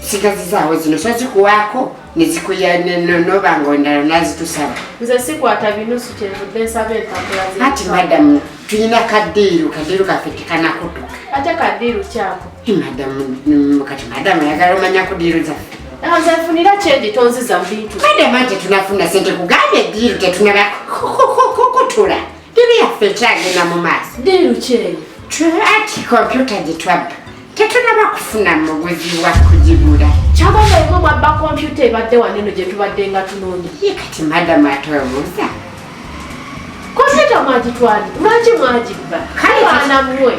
sigazi zaawo zino so zikuwaako nezikuya noba nga ondala nazitusaba nze sikwata binusu kyenvudde nsaba empapula ati madamu tulina kadiiru kadiiru kaffe tekanakutuka ate kadiiru kyako madamu kati madamu ayagala omanya kudiiru zaffe nzefunira kyendi tonziza mubintu madamu ati tunafuna sente kugambye diiru tetunaba kukutula Diri yaffe ekyagenda mu maaso. Diri lukyeye. Ati kompyuta gye twabba tetunaba kufuna muguzi wa kugigula. Kyaba nga yemwe mwabba kompyuta ebadde wano eno gye tubadde nga tunoonya. Ye kati madamu atwebuuza. Kompyuta mwagitwali lwaki mwagibba? Kale baana mmwe.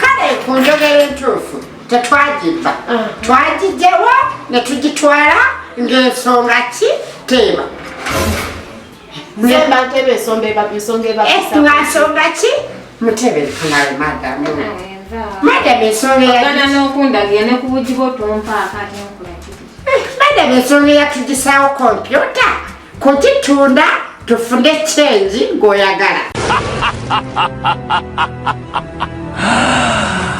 Kale ku njogera entuufu tetwagibba. Ah. Twagigyewo ne tugitwala ng'ensonga ki teeba. ensonga ki mutebe funale madamu madamu ensonga yagana n'okundagira ne ku bugi bwo tompaako ate nkola kiti eh, madamu ensonga eyatugisawo kompyuta kugitunda tufune kyengi ng'oyagala